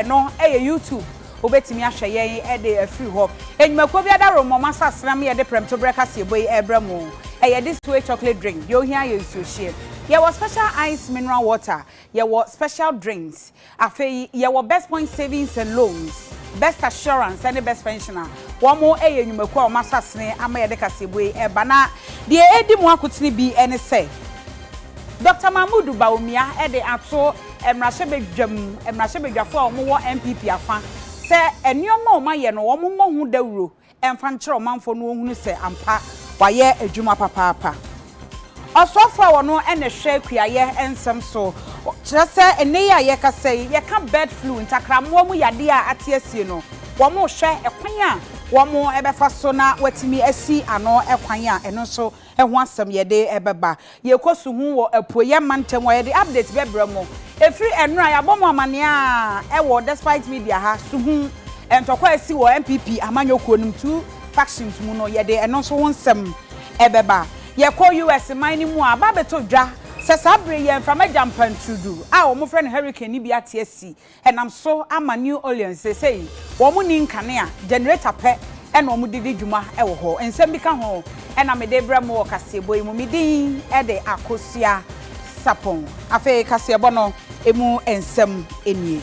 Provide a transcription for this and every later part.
no ɛyɛ YouTube wobɛtumi ahwɛ yɛn de afiri hɔ. Nnwumakuo bi adaworomɔm asaseram ne yɛde prɛmto berɛ kaseɛbɔ yi ɛrebrɛ mo. Ɛyɛ this way chocolate drink, deɛ ohia yɛ nsuohyeɛ. Yɛwɔ special ice mineral water, yɛwɔ special drinks. Afei yɛwɔ best point savings and loans, best assurance ɛne best pension a wɔn ɛyɛ nnwumakuo a wɔn asasene ama yɛde kaseɛbɔ yi ɛreba. Na deɛ ɛredi mo akotene bi ɛne sɛ Doctor Mahmood Bawumia ɛde ato. mmarahyɛbadwam mmarahyɛbadwafo a wɔwɔ NPP afã sɛ nneɛma a wɔayɛ no wɔmmɔ ho dawuro mfa nkyerɛ ɔmanfo na wɔnhunu sɛ ampa wɔayɛ adwuma papaapa. Ɔsoafo a ɔno na ɛhwɛ kuayɛ nsɛm so kyerɛ sɛ nnɛ yi a yɛrekasa yi yɛka bird flu, ntakrammoa mu yadeɛ a ate asie no, wɔrehwɛ kwan a wɔbɛfa so na wɔatumi asi ano kwan a ɛno nso ho asɛm yɛde bɛba. Yɛkɔ so hu wɔ apueɛ mantam hɔ a yɛde update bɛbrɛ mo. Ɛfiri ɛnnora a yɛabɔ mo amaneɛ a ɛwɔ Despite Media ha so hu ntɔkwa a asi wɔ NPP amanyɔkuo nom two factions mu no yɛde ɛno nso ho nsɛm bɛba. Yɛkɔ US man no mu a aba abɛtɔ dwa sɛ saa berɛ yi a mframa gya mpantrudu a wɔfrɛ no hurricane no bi ate asi nam so ama New Orleans seesei wɔnni nkanea, generator pɛ na wɔde di dwuma wɔ hɔ. Nsɛm bi ka ho na mede rebrɛ mo wɔ kaseɛbɔ yi mu. Me din de Akosua Sarpong. Afei kaseɛbɔ no mu nsɛm nie.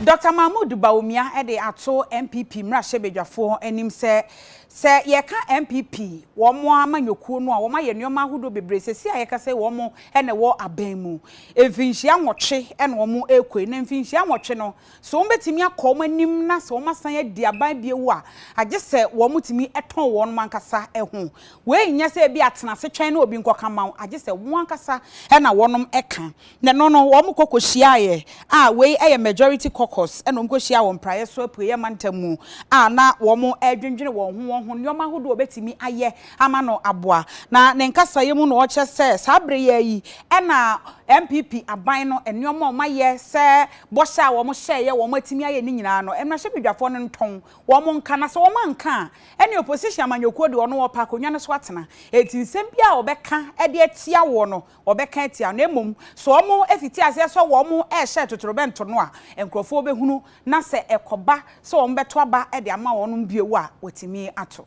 Doctor Mahmoud Bawumia de ato NPP mmarahyɛbadwafoɔ anim sɛ Sɛ yɛka NPP, wɔn amanyɔkuo no a, wɔn ayɛ nneɛma ahodoɔ bebree. Seesei a yɛkasa yi, wɔn na ɛwɔ aban mu. Mfinhyia nwɔtwe na wɔn rekɔ yi, na mfinhyia nwɔtwe no, sɛ wɔbɛtumi akɔ wɔn anim na sɛ wɔasan adi aban bio a, agye sɛ wɔtumi tɔn wɔn ankasa ho. Wei nyɛ sɛ ebia tena ase twɛn na obi nkɔka mma wo, agye sɛ wɔn ankasa na wɔka. Na ɛno no wɔn kɔ kɔ hyiaeɛ a wei yɛ majority caucus na wɔn kɔ hyiaa wɔ mpraeɛ so apueɛ mantam mu a na wɔn redwendwene wɔn ho wɔn ho nnoɔma ahodoɔ a wɔbɛtumi ayɛ ama no aboa. Na ne nkasaeɛ mu na ɔkyerɛ sɛ saa berɛ yi ara yi na NPP aban no nnoɔma a wɔn ayɛ sɛ bɔhyɛ a wɔn hyɛeɛ wɔn atumi ayɛ ne nyinaa no mmarahyɛbedwafoɔ no ntɔn wɔn nka na sɛ wɔn anka a ɛne opposition amanyɔkuo deɛ ɔno ɔpɛ akonnwa no so atena enti nsɛm biara a wɔbɛka de atia woɔ no wɔbɛka atia no, mmom sɛ wɔfiti aseɛ sɛ wɔrehyɛ atotorobɛnto no a, nkurɔfoɔ bɛhunu, na sɛ ɛkɔba sɛ wɔbɛto aba de ama wɔn bio a, wɔtumi ato.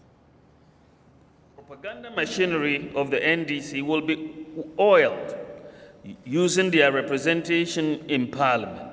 Propaganda machinery of the NDC will be oiled using their representation in parliament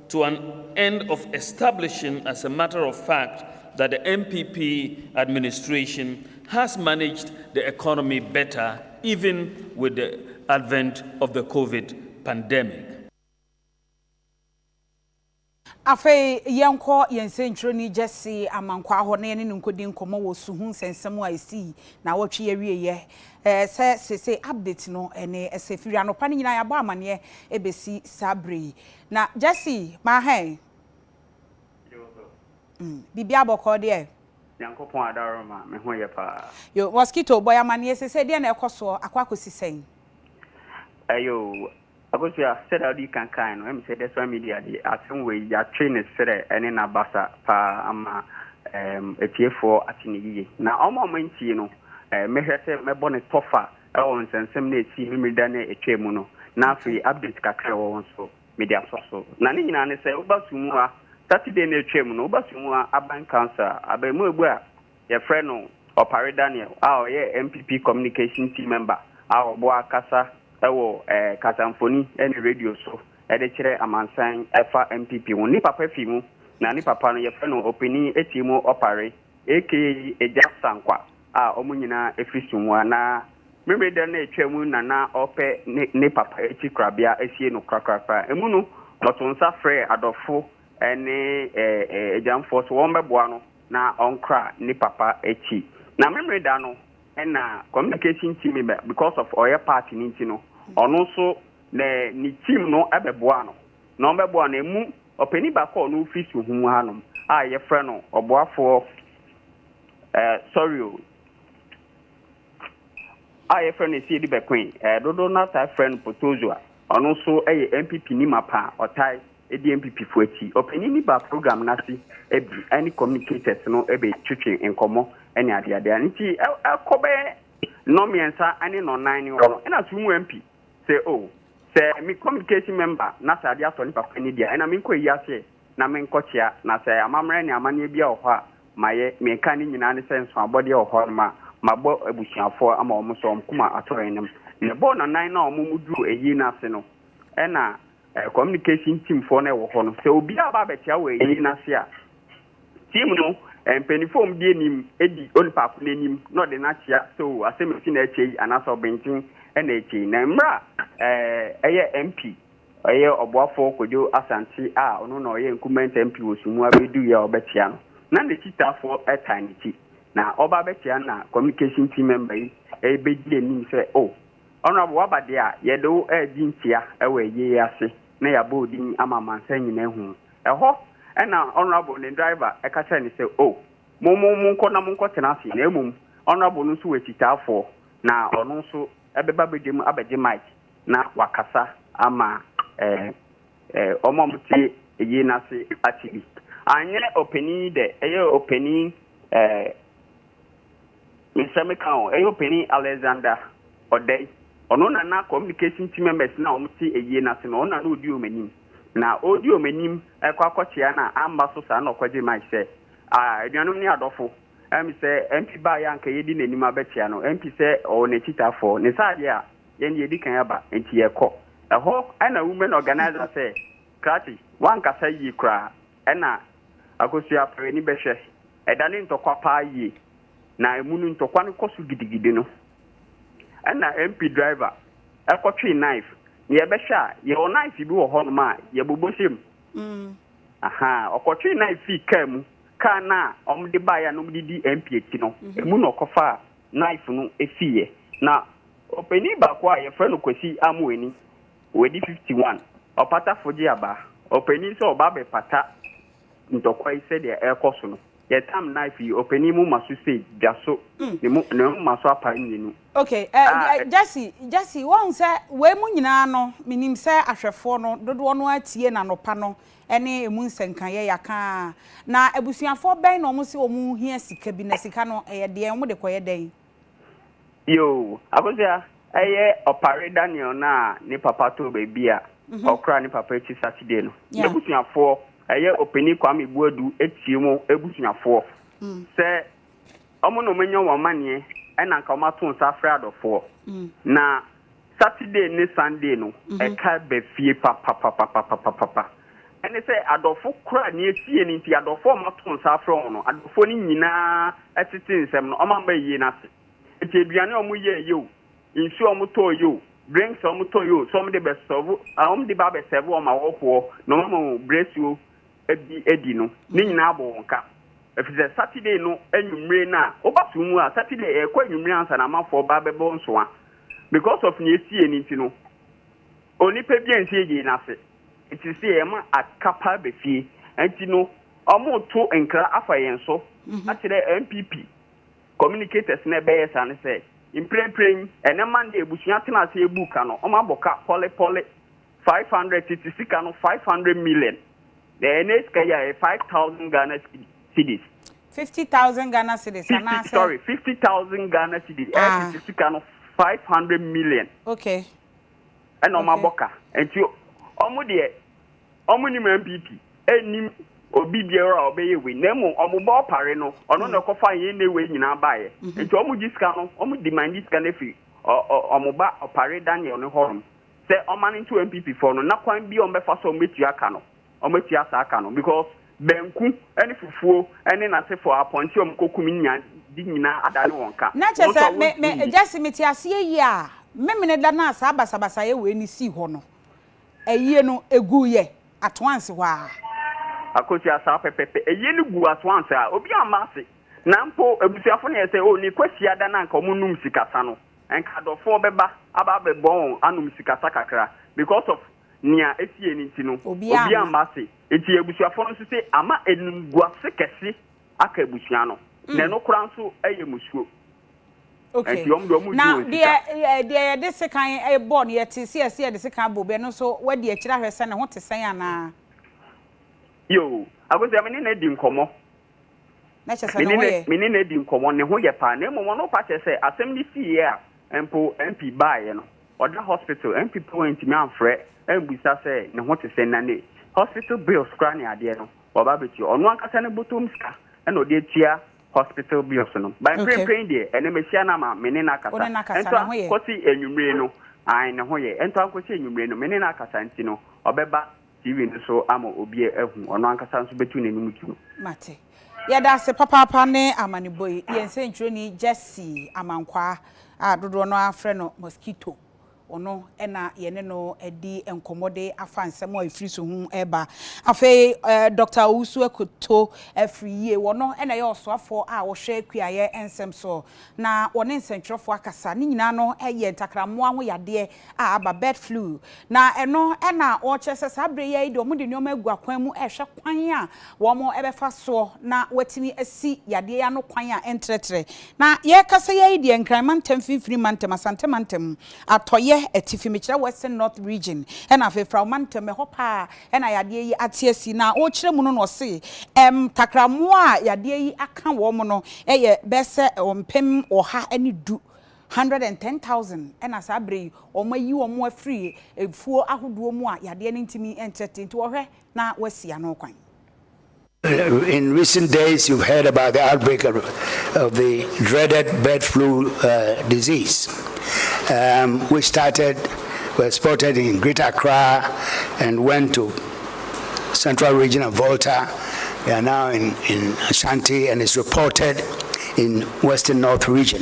to an end of establishing as a matter of fact that the NPP administration has managed the economy better even with the advent of the Covid pandemic. Afei yɛnkɔ yɛn nsɛntwerɛni Gyasi Amankwaa hɔ na yɛne no nkɔdi nkɔmmɔ wɔ su ho nsɛnsɛm a ɛsii naawɔtwe yi awieeɛ. Sɛ seesei update no, ɛne ɛsɛ firi anɔpa no nyinaa yɛabɔ amanneɛ bɛsi saa berɛ yi. Na Jesse ma hɛn. Yo ho. Biribiara bɔkɔɔ deɛ? Nyankopɔn adaroma, me ho yɛ paa. Yo, mosquito bɔ yɛn amaneɛ sesei, deɛn na ɛkɔ soɔ, akɔ akɔsi sɛn? Yo, Akosua, sɛdeɛ wode kan kaeɛ no, ɛm sɛ Desper Media de asɛm wei, yɛatwe ne serɛ ne n'abasa paa ama ɛɛm atiefoɔ ate no yiye. Na wɔn a wɔantie no, mɛhwɛ sɛ mɛbɔ no tɔfa. Ɛwɔ nsɛnsɛm no a ɛsii Memerida no a ɛtwaam mu no, na afei update kakra a ɛwɔ hɔ nso, mede atoa so. Na ne nyinaa ne sɛ, woba Sumua, Saturday no a ɛtwaam no, woba Sumua Aban Council a, abarimuabu a wɔfrɛ no Opare Daniel a ɔyɛ NPP Communication Team Member a ɔboa kasa wɔ kasamfoni ne radio so de kyerɛ amansan fa NPP ho. Ne papa fi mu, na ne papa no, wɔfrɛ no Ɔpanin Atiemu Opare aka Agya Sankwa. a wɔn nyinaa firi sum mu a na Memeneda no a ɛtwaam na na ɔrepɛ ne ne papa akyi korabea asie no korakorakora. Emu no, ɔtoo nsa frɛɛ adɔfo ne agyamfoɔ sɛ wɔmmɛboa no na ɔnkora ne papa akyi. Na Memeneda no na communication team member, because of ɔyɛ part no nti no, ɔno nso na ne team no bɛboa no. Na wɔbɛboa no, emu ɔpanin baako a ɔno firi Suhum hanom a yɛfrɛ no ɔboafoɔ Ɛɛ sɔre o. A yɛfrɛ no Asiedi Bɛkoe, ɛɛ dodow no ara taa frɛ no Potozoa. Ɔno nso yɛ NPPni mapa a ɔtaa di NPPfo akyi. Ɔpanyin no baa program no ase bi ne communicators no betwetwe nkɔmmɔ ne adeade a nti ɛkɔ bɛyɛ nnɔnmiɛnsa ne nnɔnnan ne hɔ no ɛna so mu MP sɛ oh sɛ me communication member na sɛ ade atɔ ne papa ani deɛ ɛna menkɔ ayi ase ɛ. na menkɔkyea, na sɛ amammerɛ ne amanneɛ biara wɔ hɔ a, mayɛ, nea ɛka ne nyinaa ne sɛ nsoabɔdeɛ wɔ hɔnom a, mabɔ abusuafoɔ ama wɔn nso wɔn koma atɔ yɛn anim. Na ɛbɔɔ nnanan no a wɔn mu duruu ayie no ase no, ɛna communication teamfoɔ no wɔ hɔ no, sɛ obiara aba abɛkyea wɔ ayie no ase a, team no mpaninfoɔ a wɔn di anim di onipaako no anim na ɔde no akyea sɛ oo asɛm asi na ɛkyɛ yi anaasɛ ɔbenten na ɛkyɛ yi. Na mmerɛ a ɛyɛ MP. Ɔyɛ ɔboafoɔ Kwadwo Asante a ɔno na ɔyɛ Nkrumah NTMP wɔ Sumu abɛduiɛ a ɔbɛkyea no. Na n'akyitaafoɔ taa n'akyi. Na ɔreba abɛkyea no na communication team member yi rebɛdi anim sɛ, Oh, Honourable woaba deɛ a, yɛde wo regye nkyia wɔ ayie yi ase na yɛabɔ wo din ama amansan nyinaa ahu wo. Ɛhɔ na Honourable ne driver ka kyerɛɛ no sɛ, Oh, mo mo monkɔ na monkɔtena ase na mmom Honourable no nso wɔ akyitaafoɔ na ɔno nso bɛba badwam abɛgye mic. na wakasa ama wɔn a wɔte eyi no ase ate bi. Anyɛ ɔpanin yi dɛ, ɛyɛ ɔpanin ɛɛ nsɛm ka o, ɛyɛ ɔpanin Alexander Ɔdɛi. Ɔno na na communication team members no a wɔte eyi no ase no, ɔno na na ɔdi wɔn anim. Na ɔredi wɔn anim kɔ akɔkyea no a, amma so saa na ɔkɔgye mic sɛ, ah, anuanom ne adɔfo, ɛm sɛ MP baeɛ a anka yɛdi n'anim abɛkyea no, MP sɛ ɔwɔ n'akyitaafoɔ, ne saa adeɛ a, Yɛn deɛ yɛdi kan aba nti yɛkɔ. Ɛhɔ na women organiser sɛ Kratty woankasa yie koraa ɛna Akosua fa w'ani bɛhwɛ ɛda no ntɔkwa paa yie na ɛmu no ntɔkwa no kɔ so gidigidi no ɛna MP driver ɛkɔ twee knife na yɛbɛhwɛ a yɛwɔ knife bi wɔ hɔnom a yɛbobɔ hyɛ mu ahaa ɔkɔ twee knife fii kaa mu kaa no a wɔde baeɛ a na wɔde di MP akyi no ɛmu na ɔkɔfa knife no fiiɛ na Ɔpanin baako a yɛfrɛ no Kwasi Amoani, wadi 51, ɔpata fogye aba. Ɔpanin sɛ ɔba abɛpata ntɔkwa yi sɛdeɛ ɛrekɔ so no, yɛtam nai firi ɔpanin moma so sei, dwa so, ne mo, ne moma so apaa mmienu. Ok, a ɛ, Gyasi, Gyasi, woahu sɛ wei mu nyinaa no, menim sɛ ahwɛfoɔ no, dodoɔ no ara tie n'anɔpa no ne ɛmu nsɛnkaeɛ yɛaka ara. Na abusuafoɔ bɛn na wɔse wɔhia sika bi, na sika no, ɛyɛ deɛn, wɔde kɔyɛ dɛn? Yoo, Akosua, ɛyɛ ɔpare Daniel no a ne papa too baabi a mhm. ɔkora ne papa akyi Saturday no. N'abusuafoɔ, ɛyɛ ɔpani Kwame Buadu atie mu abusuafoɔ mm. sɛ wɔn na wɔanya wɔn amanneɛ ɛna nka wɔato nsa afrɛ adɔfoɔ mm. na Saturday ne Sunday no ɛka ba fie papapapapapapa. Ɛne sɛ adɔfo kora nea ɛsiiɛ no nti, adɔfo a wɔato nsa afrɛ wɔn no, adɔfoɔ no nyinaa tete nsɛm no, wɔamma ayie no ase. Nti aduane a wɔyɛɛ yɛ o, nsuo a wɔtɔɔ yɛ o, drinks a wɔtɔɔ yɛ o, sɛ wɔde bɛ sɛvo, wɔde ba abɛ sɛvo wɔn awɔfoɔ na wɔama wɔn brɛsuo bi adi no, ne nyinaa bɔ wɔn ka. Ɛfiri sɛ Saturday no anwummere no a, woba som mu a, Saturday ɛkɔ anwummere ansa na amafoɔ ba abɛbɔ nsoa. Because of nea esii no nti no, onipa biara nsi agyei no ase. Enti sɛ yɛma aka paa ba fie a, enti no wɔreto nkra afa yɛn so akyerɛ NPP communicators na ɛbɛyɛ saa ne sɛ, mprempren yi, ɛnnɛ Monday, abusua tena ase buu ka no, wɔabɔ ka pɔlepɔle. Five hundred tete sika no five hundred million na ɛnɛ sika yi a ɛyɛ five thousand Ghana cedis. Fifty thousand Ghana cedis anaasɛ. Sorry fifty thousand Ghana cedis ɛyɛ ah. tete sika no five hundred million. Okay. Ɛna wɔn abɔ ka nti wɔn deɛ wɔn nim NPP ɛnim obi biara a ɔbɛyɛ wei na mmom wɔn bɔ ɔpare no ɔno na ɛkɔfa yɛn ne wei nyinaa baeɛ mhm. nti wɔn gye sika no wɔn demand sika no afiri wɔn ba ɔpare Daniel no hɔnom. sɛ ɔma no nto NPP fɔ no na kwan bi a wɔbɛfa so a wɔbɛtua ka no, wɔbɛtua saa ka no because banku ne fufuo ne n'asefo a apɔnkye a wɔkɔkum nya de nyinaa adane wɔn ka. Na kyerɛ sɛ me, me, Gyasi, mete aseɛ yie a, Memeneda no a saa basabasayɛ wei no sii hɔ no, ayie no, ɛguiɛ Atoanse hɔ ara. Akosua, saa pɛpɛpɛ. Ayie no guu Atoanse a, obiara amma ase. Na mpo, abusuafo no yɛ sɛ, oh, ne Kwasiada no anka wɔnnom sikasa no. Anka adɔfoɔ bɛba aba abɛbɔ wɔn anom sikasa kakra because of nea ɛsiiɛ no nti no Obiara obiara amma. mma ase nti abusuafoɔ no nso se ama animguase kɛse aka abusua no na ɛno koraa nso yɛ musuo Ok. nti wɔn deɛ wɔn Na gye wɔn deɛ sika. eh, deɛ yɛde sekan eh, bɔ no yɛte se yɛse yɛde sekan abɔ obi a, ɛno nso wadi akyire ahwɛ sɛ ne ho te sɛn anaa? Yoo, Akosua me ne no adi nkɔmmɔ. na kyerɛ sɛ ne ho yɛ. Me ne no adi nkɔmmɔ, ne ho yɛ paa. Na mmom ɔno pa kyerɛ sɛ asɛm no siiɛ a mpo MP baeɛ no, ɔda hospital, MP mpo antumi amfrɛ ammisa sɛ ne ho te sɛn, na ne hospital bills koraa ne adeɛ no, waba abɛtua. Ɔno ankasa ne bɔtɔm sika na ɔde atua hospital bills no. But mprempren deɛ, ɛnnɛ mahyia no ama me ne no akasa. Ɛntoa nkɔsi anwummere no, ae, ne ho yɛ. Ɛntoa nkɔsi anwummere no, me ne no akasa nti no, ɔbɛba. TV no so ama obi ahu, ɔno ankasa nso bɛtu n'anim dwom. Mate. Yɛda ase papaapa ne amanebɔ yi. Yɛn sɛntwerɛni Gyasi Amankwaa a dodoɔ no ara frɛ no Mosquito, ɔno na yɛne no adi nkɔmmɔ de afa nsɛm a ɛfiri so ho reba. Afei Dɔkta Owusu Akoto afiri yie, ɔno na ɛyɛ ɔsoafoɔ a ɔhwɛ kuayɛ nsɛm soɔ, na ɔne nsɛntwerɛfoɔ akasa. Ne nyinaa no yɛ ntakrammoa ho yadeɛ. a aba, bird flu, na ɛno na wɔkyerɛ sɛ saa berɛ yi ara yi deɛ wɔde nneɛma agu akwan mu rehwɛ kwan a wɔbɛfa soɔ na wɔatumi asi yadeɛ yi ano kwan a ɛntrɛtrɛ. Na yɛrekasa yi ara yi deɛ Nkran mantam, Mfimfini mantam, Asante mantam, Atɔeɛ, Atifi, mekyerɛ Western North Region, ɛna afei Frao mantam, ɛhɔ pa ara na yadeɛ yi ate asi. Na wɔrekyerɛ mu no na wɔse ntakrammoa a yadeɛ yi aka wɔn no yɛ bɛyɛ sɛ mpem ɔha ne du Hundred and ten thousand na saa berɛ yi wɔayi wɔn afiri afuo ahodoɔ mu a yadeɛ no ntumi ntrɛtrɛ nti wɔhwɛ na wɔasi ano kwan. In recent days you've heard about the outbreak of, of the dreaded bird flu uh, disease, um, which started, was spotted in Greater Accra and went to central region of Volta. They are now in, in Ashanti and is reported in western north region.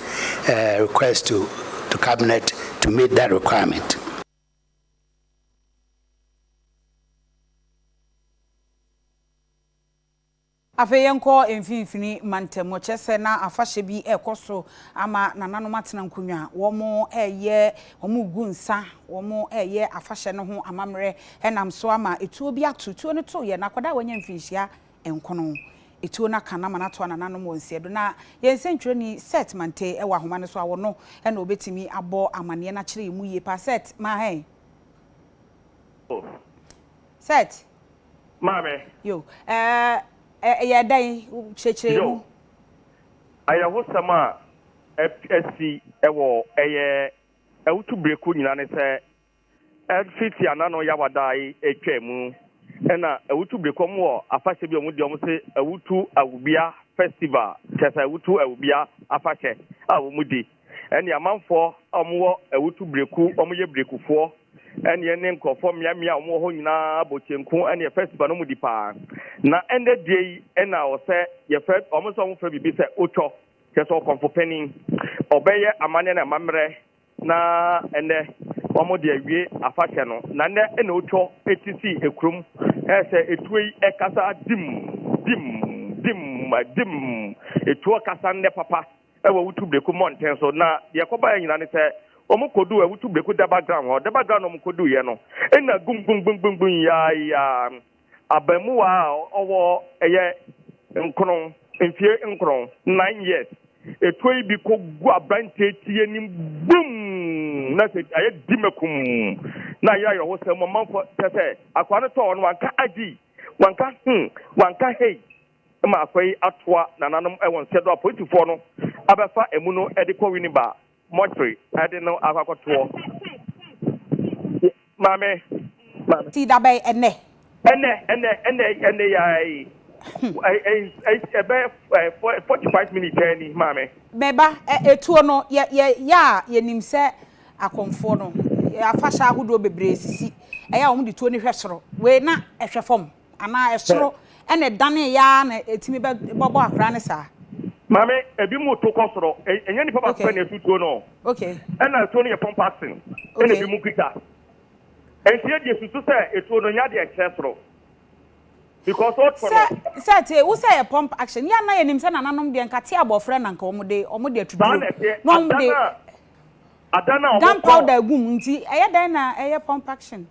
a request to to cabinet to meet that requirement. Afei yɛnkɔ mfinfini mantam. Ɔkyerɛ sɛ na afahyɛ bi ɛrekɔ so ama nananom atena nkonnwa. Wɔn ɛyɛ wɔn regu nsa, wɔn ɛyɛ afahyɛ no ho amammerɛ ɛnam so ama etuo bi ato. Tuo no toeɛ na akwadaa a wanya mfinhyia nkono. Etuo no aka no ama no atoa nananom wɔ nsɛeɛ do. Na yɛn nsɛntwerɛni Seth Manthey wɔ ahoma no so a, ɔno na ɔbɛtumi abɔ amanneɛ no akyerɛ yɛn mu yie paa. Seth, Manthey? Oh. Seth? Maame. Yo. Eh, ɛyɛɛ dɛn? Kyerɛkyerɛ yɛn mu. Yo. Ayɛhosɛm a asi wɔ ɛyɛ awutu berɛ koro nyinaa ne sɛ, Efi Tiana no Yawada yi etwa mu na Awutu Brekɔm wɔ afahyɛ bi a wɔn de wɔn se Awutu Awubea Festival kyerɛ sɛ Awutu Awubea afahyɛ a wɔn di ɛne amanfoɔ a wɔn wɔ Awutu Breku wɔn yɛ Brekufoɔ ɛne ɛne nkorɔfoɔ mmea mmea a wɔn wɔ hɔ nyinaa bɔ kyenku ɛne festival no wɔn di paa na ɛnɛ die yi ɛna ɔsɛ yɛfɛ wɔn sɛ wɔn fɛ bibi sɛ otwɔ kyerɛ sɛ ɔkɔmfo panin ɔbɛyɛ amaneɛ ne amammerɛ Na ɛnnɛ wɔn de awie afahyɛ no na nnɛ na otwa eti si ekurom ɛsɛ etuo yi ɛkasa dim dim dim dim etuo kasa nnɛ papa ɛwɔ wutu breku mmɔnten so na deɛ kɔba yɛ nyina ne sɛ wɔn kodu ɛwutu breku dɛba ground hɔ dɛba ground wɔn kodu yɛ no ɛna gum gum gum gum gum yaa yaa. Abaamua a ɔwɔ ɛyɛ nkron, mfie nkron, nine years, etuo yi bi kɔgu aberanteɛ ti anim bum! Na sɛ ayɛ dimakum na ayɛ ayɔhosɛm mu ɔmanfoɔ kyɛ sɛ akwaa no tɔɔ no wanka agyi, wanka hmm, wanka hei ma akwaa yi atoa nananom wɔ nsɛdo a polisifoɔ no abɛfa emu no de kɔ Winneba. mortuary ɛde no akɔ akɔtoɔ maame maame. Ti da bɛn ɛnɛ. Ɛnɛ ɛnɛ ɛnɛ ɛnɛ yaa yi ɛbɛ forty five minutes ɛyɛ ni maame. Mɛba ɛ etuo no yɛ yɛ yɛ a yɛ nim sɛ akɔmfoɔ no afahyɛ ahodoɔ bebree sisi ɛyɛ a wɔn de tuo no hwɛ soro wei na ɛhwɛ fam. Anaa ɛsoro na ɛdanee yɛ ara na ɛtumi bɛbɔ akwadaa no saa? Maame, ebinom to kɔ soro. Ɛnyɛ nipa baako pɛ na ɛto tuo no. Ɛna tuo no yɛ pɔmpɔ asen, ɛna ebinom kuta. Nti yɛ deɛ susu sɛ etuo no nya deɛ ɛkyerɛ soro. Because o to no. Sɛ te wo sɛ yɛ pump action. Yɛ ana yɛ nim sɛ nananom deɛ nka te abɔfra na nka wɔn de wɔn deɛ tutuo. Saa na ɛteɛ. Adan a wɔn de. Gun powder egum nti ɛyɛ dan na ɛyɛ pump action.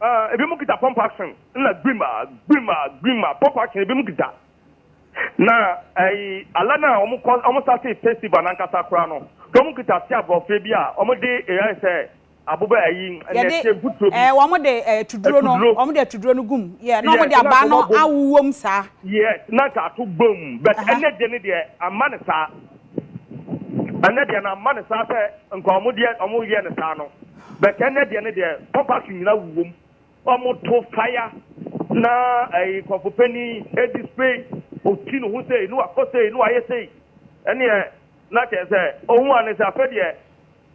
Ɛɛ, ebinom kita pump action na gbim a, gbim a, gbim a, pump action ebinom kita. Na ɛyi ala no a wɔn kɔ wɔn sase festival nankasa koraa no, wɔn kita se aborɔfrɛ bi a wɔn de ɛyɛ sɛ aboba ɛyi nɛteɛ mfuturo bi. Ɛɛ, wɔn de ɛɛ tuduro no, wɔn de tuduro no gum, yɛ na wɔn de abaa no awuwom saa. Yes, na nka ato gbom, but ɛnɛ deɛ ne deɛ ama ne saa. Ɛnɛ deɛ na mma no saa sɛ nka ɔmo deɛ ɔmo yɛ no saa no but ɛnɛ deɛ no deɛ pɔmpakye nyina wu wom ɔmo to fire na ɛyi nkorɔfo panin ɛdi spray ɔti ne ho sei ne wakɔ sei ne wayɛ sei ɛneɛ na kyerɛ sɛ ɔhu ane sɛ afɛ deɛ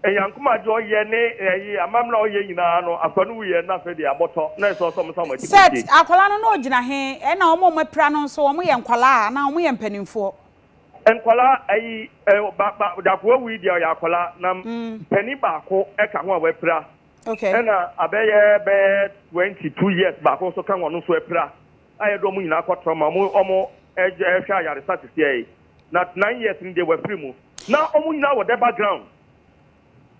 Nyankoma adeɛ ɔyɛ ne ɛyi amammerɛ ɔyɛ nyinaa no afa no wuyɛ na afɛ deɛ abɔtɔ na ɛsɛ ɔsɛ ɔmo sa ɔmo akyi Seth, kɔtie. Akwadaa no na ɔgyina he? Ɛna wɔn a wɔapira no nso, wɔyɛ nkwadaa anaa wɔyɛ mpanimfoɔ? Nkwadaa ayi ɛ ba ba dako awu yi deɛ ɔyɛ akwadaa na panin baako ɛka ho a wapira okay. ɛna abɛyɛ bɛyɛ twenty two years baako nso ka wɔn nso apira a yɛde wɔn nyinaa kɔ tɔrɔma wɔn wɔn ɛhwɛ ɛhwɛ ayaresa sisiɛ yi na nine years ni deɛ wafiri mu na wɔn nyinaa wɔ dɛ background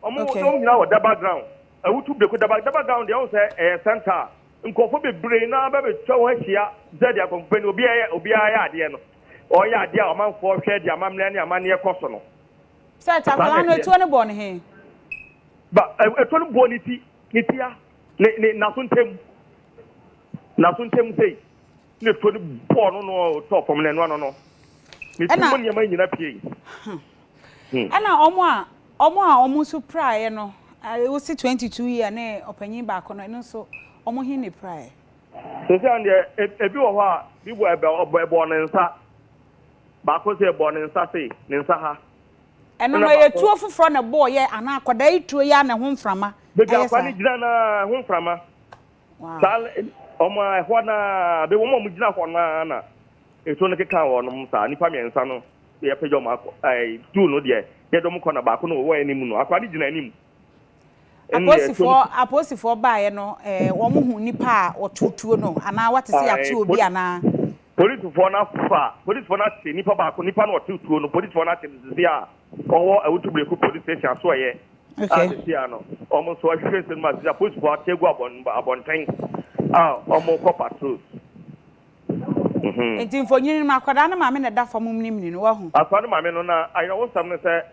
wɔn okay. wɔn nyinaa wɔ dɛ background awutu breko dɛ background deɛ wɔn sɛ ɛyɛ center nkurɔfoɔ bebree na bɛbɛtwa wɔn ahyia sɛ deɛ nkɔmfɛn obi ayɛ obi ayɛ adeɛ no. Ɔyɛ adeɛ a ɔmanfoɔ hwɛ de amammerɛ ne amanneɛ kɔ so no. Sɛt, Akwadaa no atuo no bɔɔ no he? Ba, atuo no bɔɔ ne ti, ne ti a, ne, ne, n'aso ntam. N'aso ntam sei. Na atuo no bɔɔ no no tɔɔ fam na ɛno ano no. Ne ti mu nneɛma nyina piei. Ɛna wɔn a, wɔn a wɔn nso piraeɛ no, wosi 22 year ne ɔpanyin baako no, ɛno nso, wɔn he na epiraeɛ? Seesei no deɛ, ebi wɔ hɔ a, bi bɔ ɛbɛ, ɔbɔ, ɛbɔɔ ne nsa. Baako se ɛbɔɔ ne nsa sei, ne nsa ha. Ɛno no, ɛyɛ tuo foforɔ na ɛbɔɔ yɛ anaa akwadaa yi tuo yi ara na ɛho mframa Baabi a ɛyɛ akwadaa saa? no gyina no ara, ɛho mframa. Wow. Saa, wɔn a ɛhɔ no ara, bɛ- wɔn a wɔgyina hɔ no ara na etuo no keka wɔnom saa. Nnipa mmiɛnsa no, yɛpagya wɔn akɔ, ɛɛ, tuo no deɛ, yɛde wɔn kɔ na baako no ɔwɔ anim no, akwadaa no gyina anim. Apolisifoɔ apolisifoɔ baeɛ no ɛɛ wɔn hu nipa a ɔto tuo no anaa wate sɛ yɛato obi anaa. Polisifoɔ no afa polisifoɔ no ate nipa baako nipa no ɔto tuo no polisifoɔ no ate no sisi a ɔwɔ awutubreko police station asoɛyɛ. Okay. A sisi a no wɔn nso ahwehwɛ nsɛm a sisi a polisifoɔ ate agu abɔn abɔnten a wɔn kɔ patrols. Nti mfonyin no akwadaa no maame na ɛda fam mu no mini no wahu. Akwadaa no maame no na ayerɛwosɛm no sɛ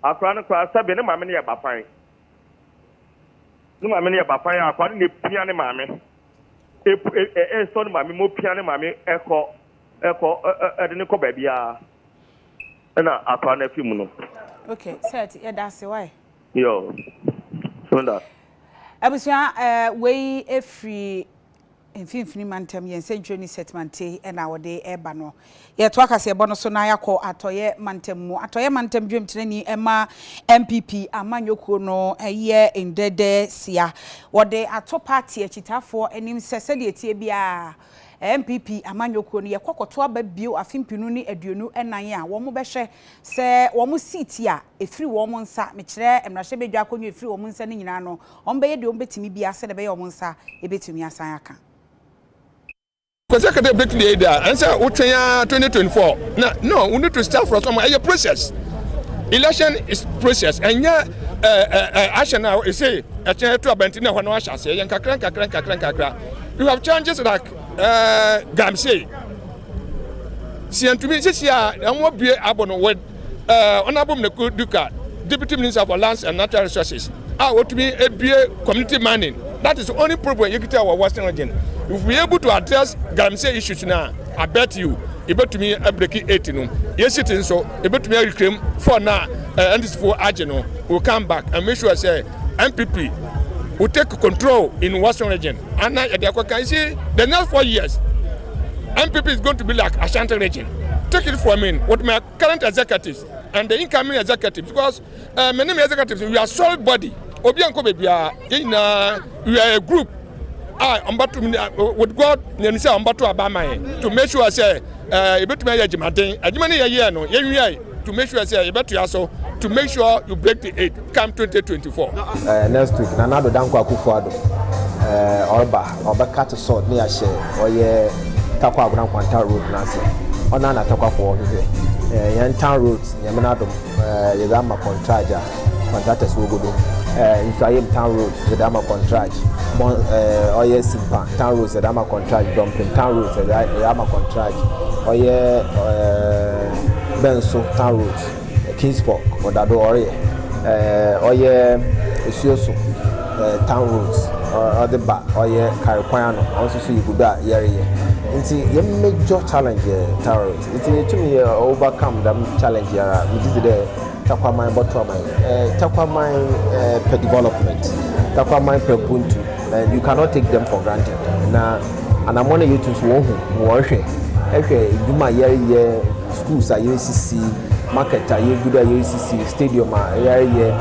Akora no koraa sɛbe ne maame no yɛ bafan ne maame no yɛ bafan a akora no na epia ne maame epu e ɛ ɛsɔ ne maame mo pia ne maame ɛkɔ ɛkɔ ɛ ɛ ɛde ne kɔ baabi a ɛna akora no afi mu no. Ok sɛ ɛte yɛ daase wae. Yoo so da. Abusua ɛɛ wei efiri Mfimfini Mantam yɛ nsɛnkyerɛnne Sɛtmante na wɔde reba no. Yɛtoa kaseɛbɔ no so na yɛakɔ Atɔeɛ Mantam mu. Atɔeɛ Mantam dwamtirani ma NPP amanyɔkuo no yɛ ndɛɛdɛɛsia. Wɔde ato paati akyitaafoɔ anim sɛ sɛdeɛ ɛteɛ biara NPP amanyɔkuo no yɛkɔ kɔto aba bio afe mpenu ne aduonu nan a wɔbɛhwɛ sɛ wɔn siiti a ɛfiri wɔn nsa, mekyerɛ mmarahyɛbadwa akonnwa a ɛfiri wɔn nsa no nyinaa no, Wɔbɛyɛ deɛ wɔbɛtumi biara sɛdeɛ ɛbɛyɛ a wɔn nsa bɛtumi asan aka. Kwasi aka dɛ ebetumi ayɛ dɛ a ansa wotwɛn ara twenty twenty four na no we need to start from somewhere ɛyɛ process election is process ɛnyɛ ahyɛ no a ɛsɛ ɛkyɛn ɛto abɛnten na ɛhɔ no ahyɛ aseɛ ɛyɛ nkakra nkakra nkakra nkakra you have challenges like galamsey sɛ yɛntumi sisi a ɛmo abue abɔ no wɔ Honourable Mnaku Duka, Deputy Minister for Lands and Natural Resources, a otumi ebue community mining. That is the only problem yɛkita wɔ Western region. If we able to address galamsey issues no a, I bet you ebetumi abreki eight no. Yɛsi ti nso, ebetumi areclaim four no a NDC fo agye no. We'll come back and make sure sɛ NPP will take control in Western region. Ana yɛde akɔka. You see, the next four years, NPP is going to be like Ashanti region. Take it from me with my current executives and the incoming executives because uh, many executives we are solid body. Obi anko baby ah, uh, we are a group. Ah, I'm about to uh, with God and say I'm about to abama to make sure I say uh, a bit my jima thing. A jima ni ya no, ya to make sure sɛ yɛbɛtoa so to make sure you break the eight come 2024. Uh, eh, next week Nana Addo Dankwa Akufo-Addo uh, eh, ɔreba ɔbɛka te sɔɔt ne ahyɛ ɔyɛ Takwa Agona Nkwanta road n'ase ɔna na Takwafoɔ hwehwɛ uh, eh, yɛn town road Nyamena Adom uh, yɛdze ama kɔntragya Kɔntratɛs wogu do eh, Nsuaem Town Road dze ama kɔntraj bɔn eh, ɔyɛ Simpa Town Road dze ama kɔntraj Dɔmpem Town Road dze ama kɔntraj ɔyɛ eh, Bɛnso Town Road Kingsburg ɔda do ɔreyɛ eh, ɔyɛ Esuoso eh, Town Road ɔdze ba ɔyɛ Kar kwan ano ɔnso so yɛgu do a yɛreyɛ nti yɛ major challenge yɛ Town Road nti yetum yɛ overcome dɛm challenge yara megye dzi dɛ Takwaman Bɔtoaman eh, Takwaman eh, pɛ development, Takwaman pɛ Ubuntu and you cannot take them for granted. Na anamɔ no yɛtu nso wɔhu, wɔhwɛ, ɛhwɛ adwuma a yɛreyɛ, schools a yɛresisi, market a yɛgu do a yɛresisi, stadium a yɛreyɛ,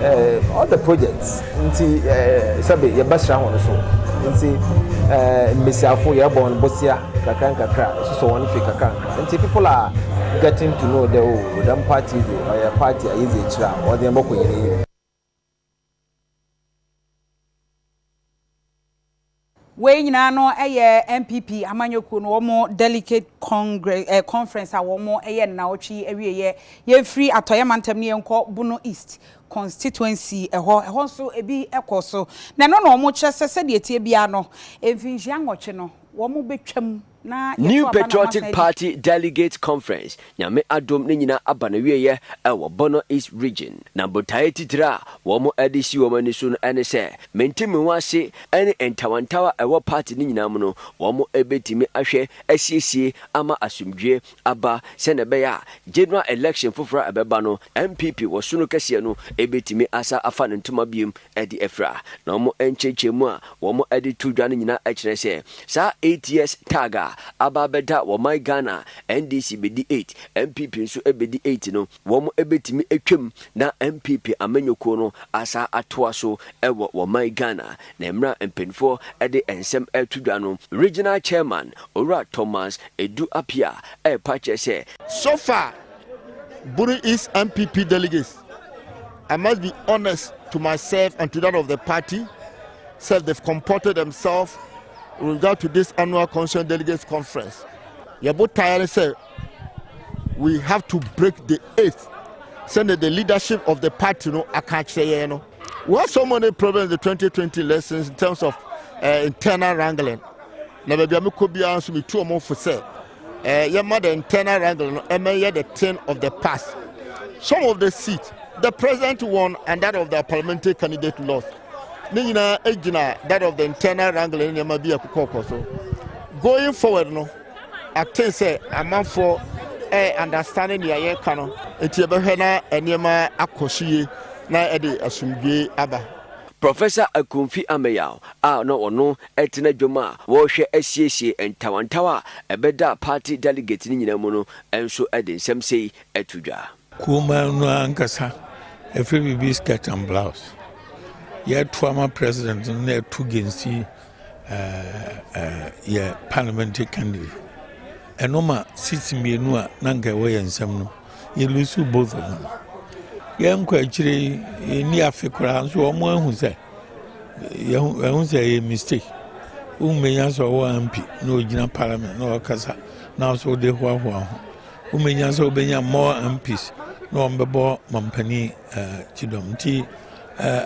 eh, all the projects nti eh, sɛbe yɛbɛsra ho no so nti eh, mbesiafo yɛbɔ no bosea kakra nkakra, ɛsosɔ wɔn hwee kakra Ntsi people are getting to know dɛ oh dɛm party yi dze ɔyɛ party a yedzi ekyir a ɔdze hɛn bɔkɔ hɛn enyim. Wei nyinaa no yɛ NPP amanyɔkuo no wɔn delicate congre eh, conference a wɔn yɛ no naawɔtwe yi awieeɛ. Yɛmfiri atɔeɛ mantam no yɛnkɔ Bono East constituency ɛhɔ. Ɛhɔ nso ebi kɔɔ so. Na ɛno na wɔkyerɛ sɛ sɛdeɛ ɛteɛ biara no, mfinhyia nwɔtwe no wɔbɛtwam New Patriotic Party Delegates Conference Nyame adom ne nyina aba n'awieɛ ɛwɔ Bono East Region na botaeɛ titire a wɔn de si wɔn ani so no ɛne sɛ mente me ho ase ɛne ntawantawa a ɛwɔ party no nyinaa mu no wɔn bɛtumi ahwɛ asiesie ama asomdwie aba sɛnea ɛbɛyɛ a general election foforo a ɛbɛba no NPP wɔ sono kɛseɛ no bɛtumi asan afa ne ntoma biom de afira. Na wɔn nkyerɛkyerɛmu a wɔn de to dwa no nyinaa kyerɛ sɛ saa eight years tag a aba abɛda wɔ my Ghana a NDC bɛdi eight, NPP nso bɛdi eight no, Wɔbɛtumi atwam na NPP amanyɔkuo no asan atoa so wɔ wɔn man Ghana. Na mmerɛ a mpaninfoɔ de nsɛm reto dwa no, Regional Chairman Owura Thomas Edu Appiah repa akyerɛ sɛ, So far, Buru East NPP delegates, I must be honest to myself and to that of the party, sɛ they've comported themselves with regard to this annual constituent delegates conference. Yɛn botaeɛ ne sɛ, we have to break the eighth sɛnɛ the leadership of the party no aka akyerɛ yɛn no we have so many problems the 2020 lessons in terms of uh, internal wrangling na baabi a mekɔ biara nso metu ɔmo fo sɛ uh, yɛma the internal wrangling no ɛmɛyɛ the thing of the past some of the seats the president won and that of the parliamentary candidate lost ne nyinaa gyina that of the internal wrangling nneɛma bi a ɛkokɔkɔ so going forward no Ate sɛ amanfoɔ ɛɛ understande nea yɛka no nti yɛbɛhwɛ na nneɛma akɔ so yie na ɛde asomdwoe aba. Professor Akomfi Ameyaw a na ɔno te n'adwam a wɔrehwɛ asiesie ntawantawa a ɛbɛda party delegates no nyinaa mu no nso de nsɛm sei to dwa. Kuruman no ankasa ɛfiri biribi skirt and blouse yɛto ama president no na ɛto gensi yɛ parliamentary candidate ɛno ma seats mmienu a na nka ɛwɔ yɛn nsam no yɛlusu both of them yɛnkɔ akyire yɛnni afe koraa nso wɔn ahu sɛ yɛhu sɛ ɛyɛ mistake wommɛnya sɛ ɔwɔ ampi na ɔgyina parliament na ɔkasa na nso wode hoahoa ho womenya sɛ wobɛnya more mps na wɔbɛbɔ mampani kyidɔm nti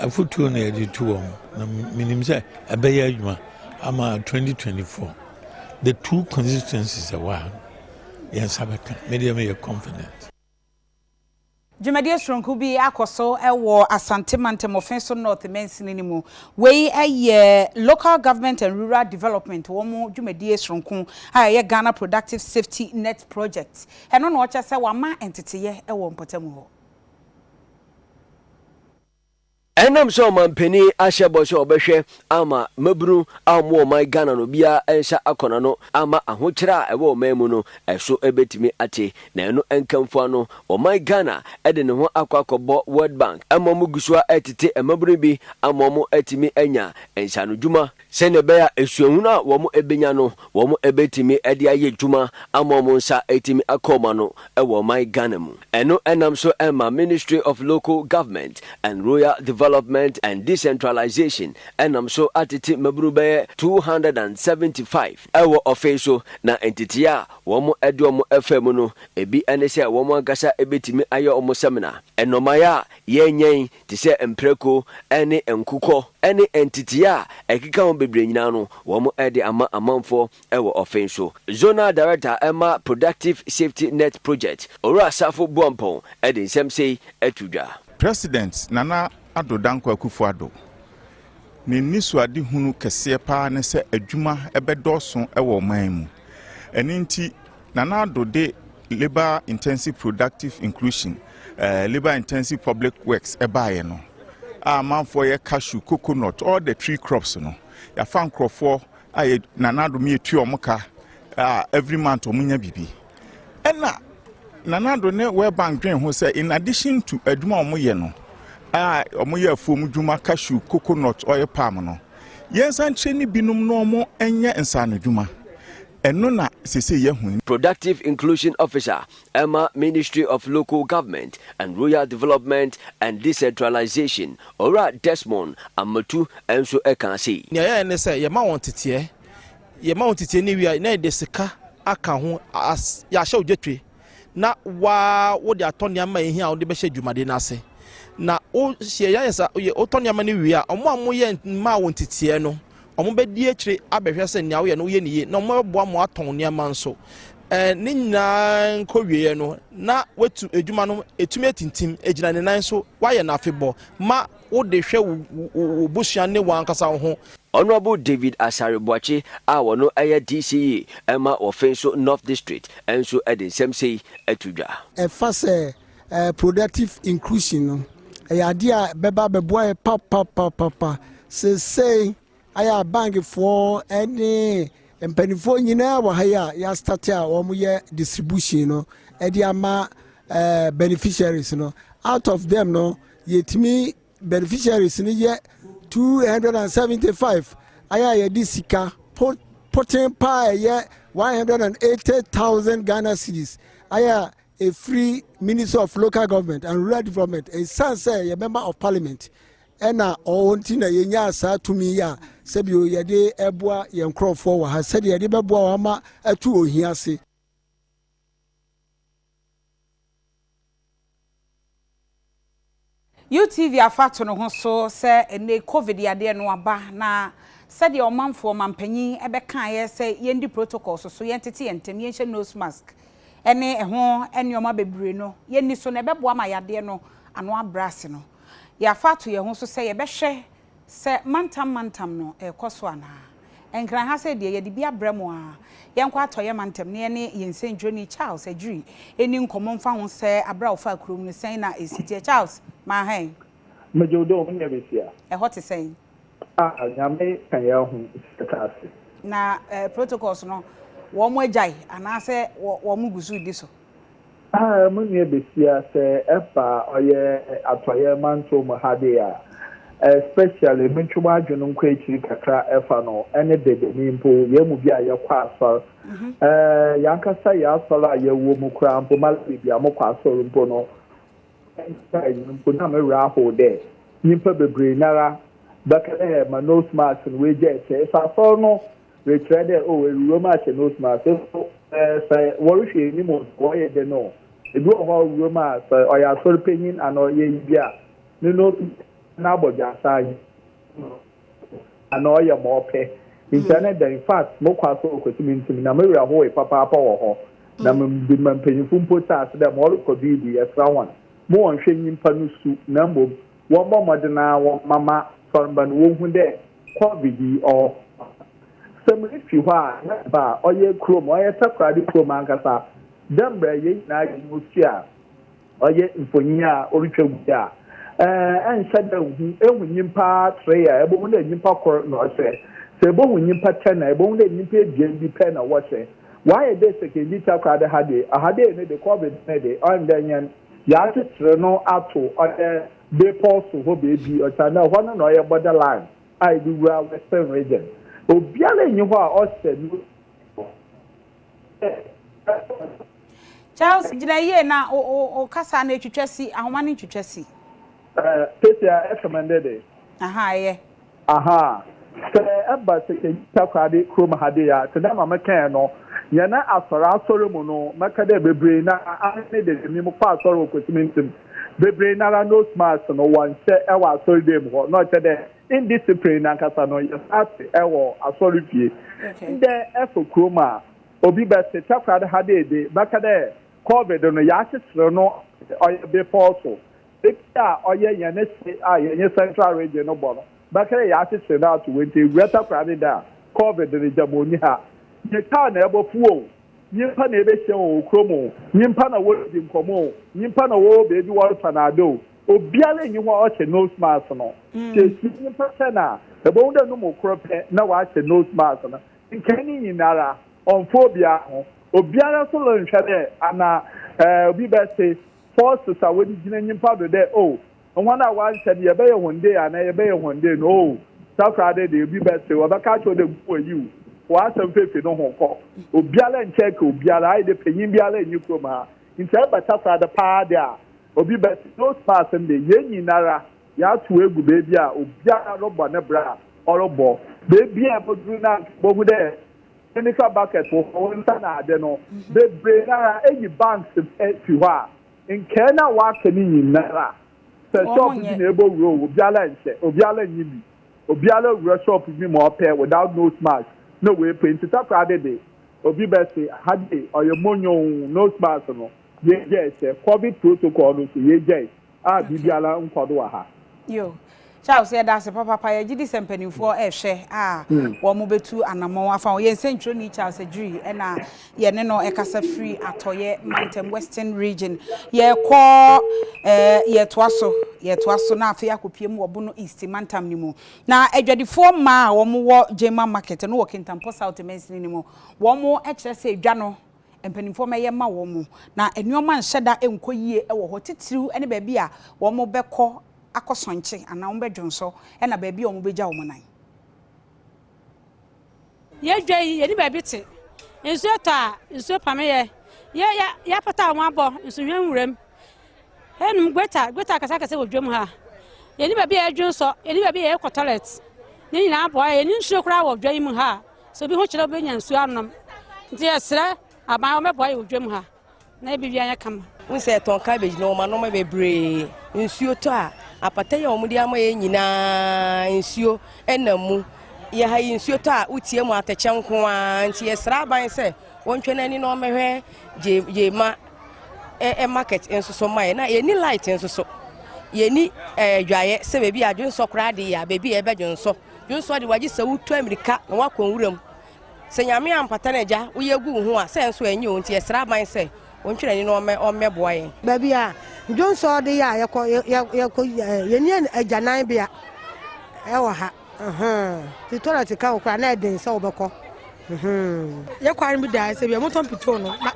afotuo na yɛde tu wɔn na menim sɛ ɛbɛyɛ adwuma ama 2024 the two constituencies ɛwɔ a yɛn nsa bɛka medeɛ meyɛ confident Dwumadie soronko bi akɔ so wɔ Asante mantam Offinso North mansini no mu. Wei yɛ Local Government and Rural Development wɔn dwumadie soronko a ɛyɛ Ghana Productive Safety Net Project. Ɛno na ɔkyɛ sɛ wɔama nteteeɛ wɔ mpɔtam hɔ. Ɛnam sɛ ɔmanpanin ahyɛ bɔ sɛ ɔbɛhwɛ ama mmabunu a wɔwɔ ɔman Ghana no biara nsa akɔ n'ano ama ahokyerɛ a ɛwɔ ɔman mu no so bɛtumi ate. Na ɛno nkamfo ano, ɔman Ghana de ne ho akɔ akɔbɔ World Bank ma wɔgu so ara retete mmabunu bi ama wɔatumi anya nsaanodwuma Sɛnea ɛbɛyɛ a suahunu a wɔbenya no wɔbetumi de ayɛ adwuma ama wɔn nsa atumi akɔ wɔn ano wɔ ɔman Ghana mu. Ɛno nam so ma Ministry of Local Government and Rural Development and Decentralization nam so atete mmabunu bɛyɛ two hundred and seventy five wɔ ɔfei so, na ntetee a wɔde wɔn faa mu no, ebi ne sɛ wɔn ankasa betumi ayɛ wɔn sɛmina, nnɔmmae a yɛnyɛn te sɛ mprako ne nkokɔ ne ntetee a ɛkeka ho bebree nyinaa no, wɔde ama amanfoɔ wɔ ɔfei so. Zonal Director ma Productive Safety Net Project, Owura Sarfo Boampong de nsɛm sei to dwa. President Nana Addo Dankwa Akufo-Addo ne nnisoadehunu kɛseɛ pa ara ne sɛ adwuma bɛdɔɔso wɔ ɔman mu. Ɛno nti Nana Addo de. Labour Intensive Productive Inclusion, uh, Labour Intensive Public Works ɛbaeɛ no a amanfoɔ yɛ cashew, coconut, all the tree crops no yɛafa nkurɔfoɔ a yɛ nanadom yɛtu wɔn ka a every month wɔn nya biribi ɛna nanado ne World Bank dwen ho sɛ in addition to adwuma a wɔyɛ no a wɔyɛ afuom dwuma cashew, coconut, oil palm no yɛnsan kyerɛ ne binom na wɔn nyɛ nsaano dwuma. Ɛno na seesei yɛahu no. Productive Inclusion Officer ma Ministry of Local Government and Rural Development and Decentralization, Owura Desmond Amotu nso kaa se. Nea yɛyɛ ne sɛ yɛma wɔn teteɛ, yɛma wɔn teteɛ ne wia na yɛde sika aka ho as yɛahyɛ ogya twe. na waa wode atɔ nneɛma a ehia a wode bɛhyɛ dwumadi no ase. Na wo hyɛ yɛayɛ sa yɛ wotɔ nneɛma no wie a, wɔn a moyɛ mmaa wɔn titiɛ no, wɔbɛdi akyire abɛhwɛ sɛ nea woyɛ no woyɛ no yie, na wɔbɛboa mo atɔn nneɛma nso. Ɛɛ ne nyinaa nkɔwieɛ no, na watu adwuma no etumi atintim, egyina ne nan so, wayɛ no afebɔ ma wo de hwɛ wo busua ne w'ankasa wo ho. Honourable David Asare Boakye a ɔno yɛ DCE ma Wɔfenso North District nso de nsɛm sei to dwa. Ɛfa sɛ productive inclusion no, ɛyɛ adeɛ a ɛbɛba abɛboa yɛn papapapapa. Seesei Ayɛ a bank foɔ ɛne mpanimfoɔ nyinaa wɔ ha yi a yɛastate a wɔyɛ distribution no ɛde ama eh, beneficiaries no out of them no yɛtumi beneficiaries no yɛ 275 ayɛ a yɛde sika poten paa ɛyɛ 180000 ghana cities ayɛ a ɛfiri ministry of local government and rural development ɛsiane sɛ yɛbɛma of parliament Ɛna ɔɔ nti na yɛnyaa saa tumi yi a sɛbio yɛde ɛboa yɛn nkorɔfoɔ wɔ ha sɛdeɛ yɛde bɛboa wɔn ama atu ohia ase. UTV afa to no ho so sɛ ɛnɛ covid yadeɛ no aba na sɛdeɛ ɔmanfoɔ manpanyin bɛkaeɛ sɛ yɛndi protocols so, yɛntete yɛn ntem, yɛnhyɛ nose mask ɛne ɛho nnoɔma bebree no yɛnni so na ɛbɛboa ma yadeɛ no ano abrɛ ase no. Yɛafa ato yɛn ho so sɛ yɛbɛhwɛ sɛ mantam mantam no rekɔ so anaa. Nkran ha sɛɛ deɛ, yɛde bi abrɛ mo ara. Yɛnkɔ atɔeɛ mantam na yɛne yɛn nsɛntwerɛni Charles Adwiri nni nkɔmmɔ mfa ho sɛ aberɛ a ɔfaa kurom no, sɛn na ɛsi teɛ. Charles, maa hɛn. Megye wo dɛ o, me nua Mesia. Ɛhɔ te sɛn? Ah, Nyame ka yɛn ahu sɛ yɛtra ase. Na protocols no, wɔn agyae anaasɛ wɔn gu so redi so? Haa mo nua basia sɛ ɛfa ɔyɛ atɔeɛ mantɔw mu ha dee a especially me ntwe mo adwene nkɔ akyiri kakra ɛfa no ɛne dede me mpo yɛn mu bi a yɛ kɔ asɔr ɛɛ yɛn ankasa yɛ asɔr a yɛ wɔ mu koraa mpo ma baabi a mo kɔ asɔr mpo no ɛɛ mpo na me werɛ ahow dɛ nyimpa bebree nara bɛka dɛ ma nose mask no wagya ɛkyɛ ɛsɛ asɔr no Rekyerɛ dɛ, oh, ewuram ahyɛ nose mask. Afei so, eh, sɛ wɔrohwɛ enyim o, wɔyɛ dɛn o, bi wɔ hɔ a owuram a, sɛ ɔyɛ asɔrpanyin anaa ɔyɛ eyi bi a, no nose mask no abɔdwaasaa annyɛ anaa ɔyɛ ma ɔpɛ. Ntsi ɛne dɛn? In fact, mokɔ asɔr wɔ Kwesi Mintsi mu, na me werɛ howee papaapa wɔ hɔ, na mede ma mpanyimfo mpo tse ase dɛ ma ɔrokɔ do yi de, yɛsera hɔn ma wɔnnhwɛ nyimpa no su, na mbom wɔmbɔ mbɔdzen ara wɔmma ma sɔrmba no wohu dɛ Covid yi ɔwɔ hɔ a, sɛ mifi hɔ a na meba a ɔyɛ kurom, ɔyɛ Takoradi kurom ankasa, dɛ mbrɛ hɛn nyina yɛnye no tse a, ɔyɛ mfonyin a orutwa gu yi a, eh, nnhyɛ da nnhu, ehu nyimpa tsree a ebohu dɛ nyimpa kor na ɔhyɛ, sɛ ebohu nyimpa tan a ebohu dɛ nyimpa ebien bi pɛ na wɔhyɛ. Wɔayɛ dɛ Sekondi Takoradi ha de, ɔha dei ne de, Covid ne de, ɔnndɛ hɛn, yɛakyekyer no ato ɔyɛ, Bepɔw so hɔ beebi, osiandɛ hɔ no na ɔyɛ border line a edze wura Western Region. Obiara nnyi hɔ a ɔhyɛ no dɛ. Charles, gyina yie na wo kasaa no etwitwa si, ahoma no ntwitwa si. Ɛɛ, Kesia, ɛkɛmɛndɛ dɛ? Ahaa, ɛyɛ. Ahaa. Sɛ ɛba sɛ yɛyi takoradi kurom ha dei a, tsedɛ ma mekãe no, hɛn asɔr asɔr mu no, mɛka dɛ beberee no ara, aane ne dede me mokɔ asɔr wɔ Kwesimi ntsem, beberee no ara nose mask no wɔnnhyɛ wɔ asɔr dan mu hɔ, na ɔkyerɛ dɛ indiscipline nankasa no yɛtaa tse wɔ asɔr fie. Ndɛ ekɔ kurom a, obi bɛtse takoradi ha dei de, bɛka dɛ Covid no yɛakyekyer no ɔyɛ bepɔw so, Eti a ɔyɛ hɛn hye a yɛnye Central Region no bɔ no, bɛkɛrɛ yɛakyekyer no ato hɔ ntsi ewura takora ne dɛ a, Covid no gyama onnyi ha. Nye kaar na ebɔfow o, nyimpa na ebehyia hɔn wɔ kurom o, nyimpa na woridzi nkɔmbɔ o, nyimpa na wɔwɔ beebi wɔrotɔn adze o, obiara nnyi hɔ a ɔhyɛ nose mask no. Sɛ ehyia nyimpa kyɛn a, ebohu dɛ no mu kor pɛ na ɔahyɛ nose mask no. Nkae ne nyinara, ɔmmfa obiara ho. Obiara so ronnhwɛ dɛ ana obi bɛtse Paul sesa wo dze gyina nyimpa do dɛ, Oh, hɔn a wɔannhyɛ no, yɛbɛyɛ hɔn dei anaa yɛbɛyɛ hɔn dei no, oh, sɛ koraa dɛ bi bɛse wo, ɔbɛka akyerɛ wo dɛ, Nku oyi o, fa w'asɛm fa fi no ho kɔ. Obiara nnkyɛke obiara, ayɛ dɛ panyin biara nnyi kurom ha. Ntsi sɛ ebɛka koraa dɛ paa de a, obi bɛse, Nose mask no de, hɛn nyinara yɛatow egu beebi a obiara robɔ ne bra a ɔrobɔ. Beebi a ebodur no a nka ibohu dɛ Sɛ nifa bucket wɔ hɔ wonsa na ade no bebree nara eyi banks fi hɔ a nkae na waka ne nyinara sɛ shop bi na ebɔ wura o obiara nhyɛ obiara nyi bi obiara wura shop bi ma ɔpɛ without nose mask na wei pɛ nti takora de de obi bɛ se ha de ɔyɛ monyoo nose mask no yɛ gyae sɛ covid protocol no nso yɛ gyae. Ah biribiara nkɔ do wɔ ha. Yo. Charles yɛda ase papapa yɛgye di sɛ mpanimfoɔ rehwɛ a wɔn bɛtu anamɔn afa ho. Yɛn sɛntwerɛni Charles Adwiri na yɛne no rekasa firi atɔeɛ mantam, Western Region. Yɛrekɔ eh, yɛretoa so, yɛretoa so na afei akɔpie mu wɔ Bono East mantam no mu. Na adwadifoɔ mmaa a wɔwɔ Gyema Market no wɔ Kintampo South mansini no mu, wɔn kyerɛ sɛ dwa no mpanimfoɔ mmɛyɛ mma wɔn, na nneɛma nhyɛ da nkɔ yie wɔ hɔ, titiriw ne baabi a wɔbɛkɔ akɔsɔnkye anaa wɔbɛdwonsɔ na baabi a wɔbɛgya wɔn nan. Yɛn dwa yi, yɛnni baabi te. Nsuo retɔ a, nsuo pame yɛn. Yɛ, yɛ, yɛapata wɔn abɔ nsuhwɛn nwuram. Yɛnom gweta, gweta akɛseakɛse wɔ dwam ha. Yɛnni baabi a yɛdwonsɔ, yɛnni baabi a yɛkɔ tɔlɛt. Ne nyinaa aboa yɛn. Yɛnni nsuo koraa wɔ dwa yi mu ha a Sɛ obi ho kyerɛ wobɛnya nsuo anom nti yɛsrɛ aban wɔbɛboa yɛ wɔ dwam ha na yɛbɛ wia yɛ kama. Wohu sɛ yɛtɔn cabbage na wɔn anoma bebree. Nsuo tɔ a apata yi a wɔde ama yɛ nyinaa nsuo ɛnam mu. Yɛ ha yi nsuo tɔ a wotie mu atɛkyɛ nko ara nti yɛsrɛ aban sɛ wɔntwɛ n'ani na wɔmmɛhwɛ gye gye ma ɛ market nso so ma yɛ na yɛni light nso so yɛni ɛɛ dwaeɛ sɛ baabi a adwonsɔ koraa de yɛ a baabi a yɛbɛdwonsɔ. Yosua de wagye sɛ wotu amirika na woakɔ nwuram. Sɛ Nyame ampata no agya, woyɛ agu wo ho a, sɛ nso ɛnyɛ o nti yɛsrɛ aban sɛ ontwerɛni no ɔmmɛboa yɛn. Baabi a Dwonsɔ de yɛ a yɛkɔ yɛkɔ yɛni agyanan bea ɛwɔ ha. Ɛhɛn. Ti tɔlɛt ka wo koraa na ɛden sɛ wobɛkɔ. yɛ kwan bi da sɛ bia motɔ mpitoo no na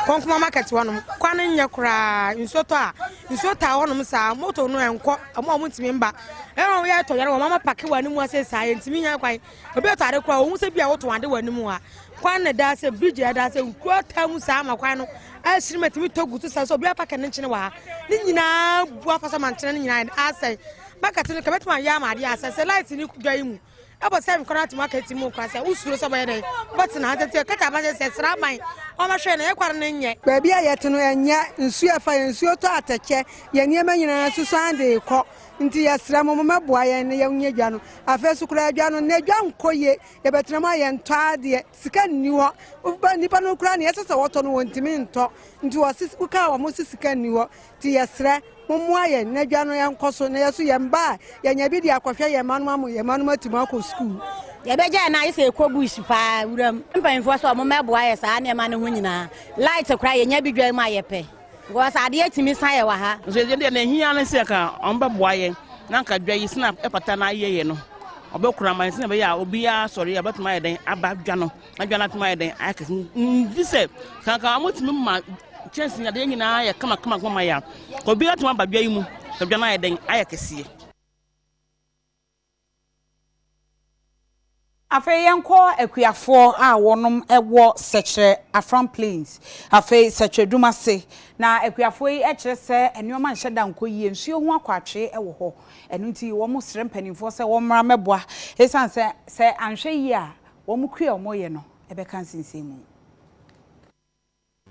kɔnkoma market hɔnom kwan no nyɛ koraa nsuo tɔ a nsuo taa hɔnom saa moto no ɛnkɔ ɔmo a ɔmontumi mba ɛna ɔmo yɛ tɔ yɛre wɔn ama pake wɔ anim ase saa yɛntumi nya kwan obi ɛtɔ ade koraa ohun sɛ bia wotɔn ade wɔ anim a kwan na ɛda sɛ bridge a ɛda sɛ nkuo taa mu saa ma kwan no ɛhyerɛ mu ɛtumi tɔ gu so saa so obi apake ne nkyene wɔ ha ne nyinaa bu afasa mankyene ne nyinaa asɛe market no kɛbɛtuma yɛ ama adeɛ asɛ sɛ light ne dwa yi mu ɛbɔ sɛ nkɔla tuma ka ti mu nkɔla sɛ wosuro sɛ bɛyɛ dɛ bɛtena ha tete kata abɛsɛ sɛ sra aban ɔmɛhwɛ na yɛkware no nyɛ baabi a yɛte no ɛnyɛ nsuo ɛfa yɛn nsuo tɔ atɛkyɛ yɛn nneɛma nyinaa so san de kɔ nti yɛsrɛ mo mɛboa yɛn na yɛnyɛ dwa no afei so koraa dwa no na dwa nkɔ yie yɛbɛtena mu a yɛntɔ adeɛ sika nni hɔ woba nnipa no koraa ne ɛsɛ sɛ wɔtɔ no wɔntumi ntɔ nti wɔse wokaa wɔn se sika nni hɔ Nti yɛsrɛ mo mmoa yɛn na adwa no nkɔ so na yɛn nso yɛn mma a yɛanya bi de akɔhwɛ yɛn mma no ma mo yɛn mma no atumi akɔ sukuu. Yɛbɛgyae no ayɛ sɛ ɛkɔ bush paa wuram. Mpanyinfoɔ sɛ ɔmo mɛboa yɛ saa nneɛma no ho nyinaa. Light koraa yɛnya bi dwan mu a yɛpɛ because adeɛ tumi sa yɛ wɔ ha. Nso yɛn deɛ nea ɛhia ne sɛ anka ɔmo bɛboa yɛn na anka dwa yi sɛnea ɛfata na ayɛ yɛ no ɔbɛkora ama yɛn sɛnea ɛbɛyɛ a obiara sɔre a ɔbɛtumi ayɛ dɛn aba dwa no. Adwa no atom ayɛ dɛn ayɛ kɛse nti sɛ kanka wɔtumi ma kyɛnse adeɛ nyinaa yɛ kama kama kama yɛ a obiara atumi aba dwa yi mu sɛ dwa no ayɛ dɛn ayɛ kɛseɛ. Afei yɛnkɔ akuafoɔ a wɔnom wɔ Sɛkyerɛ Afram Plains afei Sɛkyerɛ Dumase na akuafoɔ yi kyerɛ sɛ nnoɔma nhyɛ da nkɔ yie, nsuo ho akwatwee wɔ hɔ ɛno nti wɔn srɛ mpaninfoɔ sɛ wɔmmra mmɛboa ɛsiane sɛ sɛ anhwɛ yie a Wɔn kua a wɔyɛ no bɛka nsensɛnmu.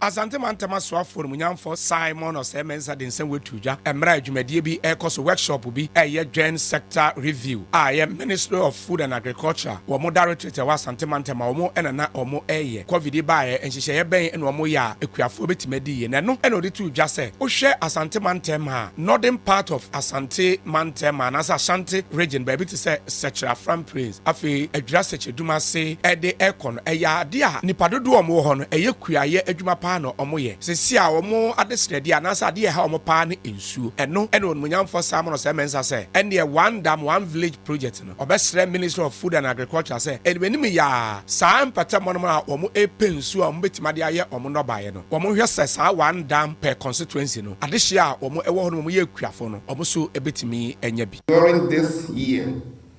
Asante Mantam Asoafoɔ Animuonyamfoɔ Simon Osei-Mensah de nsɛm wei too dwa mmerɛ a dwumadie bi rekɔ so, workshop bi a ɛyɛ Joint Sector Review a ɛyɛ Ministry of Food and Agriculture wɔn Directorate a ɛwɔ Asante Mantam a wɔn na na wɔreyɛ. Covid yi baeɛ, nhyehyɛeɛ bɛn na wɔyɛ a akuafoɔ bɛtumi adi yie? Na ɛno na ɔde too dwa sɛ, wohwɛ Asante Mantam a, Northern part of Asante Mantam anaasɛ Ashanti Region, baabi te sɛ Sɛkyerɛ, Afram Prince, Afei adwira sɛkyɛdum ase de rekɔ no, ɛyɛ ade a nnipa dodoɔ a wɔwɔ hɔ no, ɛyɛ kuayɛ adwuma paa na wɔyɛ. Seesei a wɔn adesrɛdeɛ anaasɛ adeɛ a ɛha wɔn paa ne nsuo. Ɛno na Onimuonyamfoɔ Simon Osei Mensah sɛ, ɛnneɛ One Dam, One Village project no, ɔbɛsrɛ Ministry of Food and Agriculture sɛ ɛde anim yɛ a saa mpatamu no a wɔrepɛ nsuo a wɔbɛtumi ade ayɛ wɔn nnɔbaeɛ no, wɔnhwɛ sɛ saa One Dam per constituency no, adehyeɛ a wɔwɔ hɔ no wɔyɛ akuafo no, wɔn nso bɛtumi anya bi. During this year,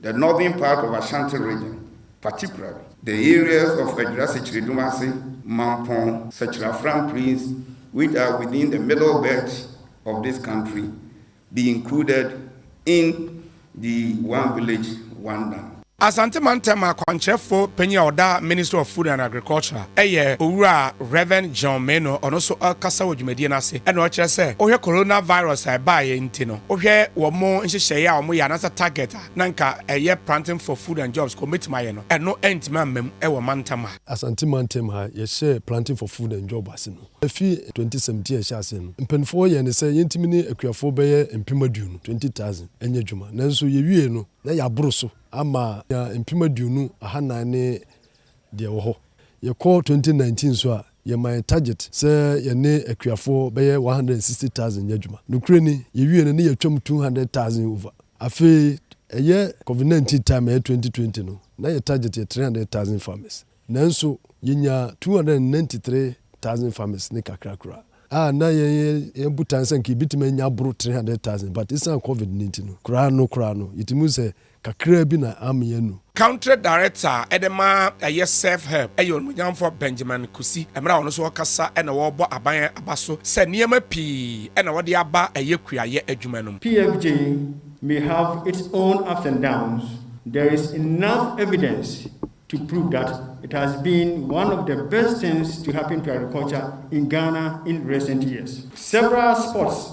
The northern part of Ashanti region, particularly. The areas of Adwira Sekyiridumase, Mampong, Sekyere Afram Plains which are within the middle belt of this country be included in the One Village, One Dam. Asante Mantam akwankyerɛfo panyin a ɔda Ministry of Food and Agriculture yɛ Owura Rev. John Meno, ɔno nso ɔkasa wɔ dwumadie no ase na ɔkyerɛ sɛ wohwɛ Coronavirus a ɛbaeɛ nti no, wohwɛ wɔn nhyehyɛeɛ a wɔyɛ anaasɛ target a na nka ɛyɛ planting for food and jobs ka wɔn bɛtumi ayɛ no, ɛno antumi amma mu wɔ mantam ha. Asante mantam ha, yɛhyɛɛ planting for food and job ase no, ɛfiri twenty seventeen a ɛhyɛɛ aseɛ no, mpaninfoɔ yɛɛ no sɛ yɛntumi ne akuafoɔ bɛyɛ mpem aduonu, twenty thousand, nyɛ adwuma. Nanso yɛwieeɛ no, na yɛaboro so ama yɛanya mpem aduonu, ahanan ne deɛ ɛwɔ hɔ. Yɛkɔ twenty nineteen nso a, yɛmaa yɛn target sɛ yɛne akuafoɔ bɛyɛ one hundred and sixty thousand nyɛ adwuma. Nokorɛ ni, yɛwie no, na yɛatwam two hundred thousand over. Afei, ɛyɛ covid nineteen time a ɛyɛ twenty twenty no, na yɛn target yɛ three hundred thousand farmers. Nanso, yɛnyaa two hundred and ninety three thousand farmers ne kakra koraa. A na yɛn yɛn botaeɛ sɛ anka yɛbɛtumi anya aboro three hundred thousand but ɛsiane covid no nti no, koraa no koraa no, yɛtumi hu sɛ Kakraa bi na ammee anu. Country Director a ɛde ma ɛyɛ Serve Help yɛ Onimuonyamfoɔ Benjamin Kusi, mmerɛ a ɔno nso ɔrekasa na ɔrebɔ aban aba so sɛ nneɛma pii na wɔde aba ɛyɛ kuayɛ adwuma no mu. PFJ may have its own ups and downs, there is enough evidence to prove that it has been one of the best things to happen to agriculture in Ghana in recent years. Several sports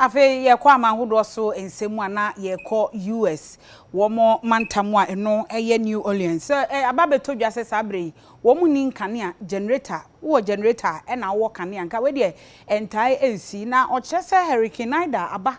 Afei yɛkɔ aman hodoɔ so nsɛm mu a na yɛkɔ US wɔn mantam a ɛno yɛ New Orleans. Sɛ aba abɛtɔ dwa sɛ saa berɛ yi wɔn nni nkanea, generator, wowɔ generator a ɛna wowɔ kanea nka wei deɛ ɛntae nsi na ɔkyerɛ sɛ Hurricane Ida aba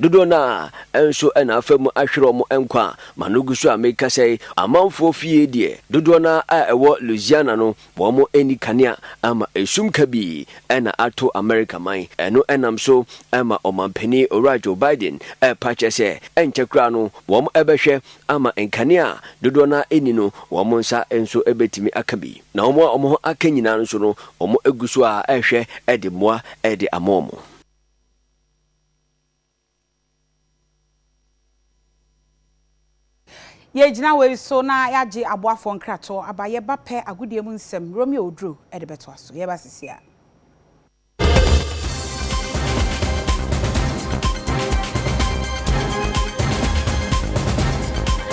Dodoɔ no ara nso na afa mu ahwere wɔn nkwa. Ma no gu so a mekasa yi, amanfoɔ fie deɛ, dodoɔ no ara a ɛwɔ Louisiana no, wɔn nni kanea ama esum kabii na ato Amerika man. Ɛno nam so ma Ɔmanpanin Owura Joe Biden repa kyɛ sɛ ɛnkyɛ koraa no wɔn bɛhwɛ ama nkanea a dodoɔ no ara nni no wɔn nsa nso bɛtumi aka bi. Na wɔn a wɔn ho aka nyinaa nso no wɔn gu so ara rehwɛ de mmoa de ama wɔn. Yɛgyina wei so na yɛagye aboafoɔ nkratoɔ aba. Yɛba pɛ agodie mu nsɛm, Romeo Oduro de bɛtoa so. Yɛba seesei ara.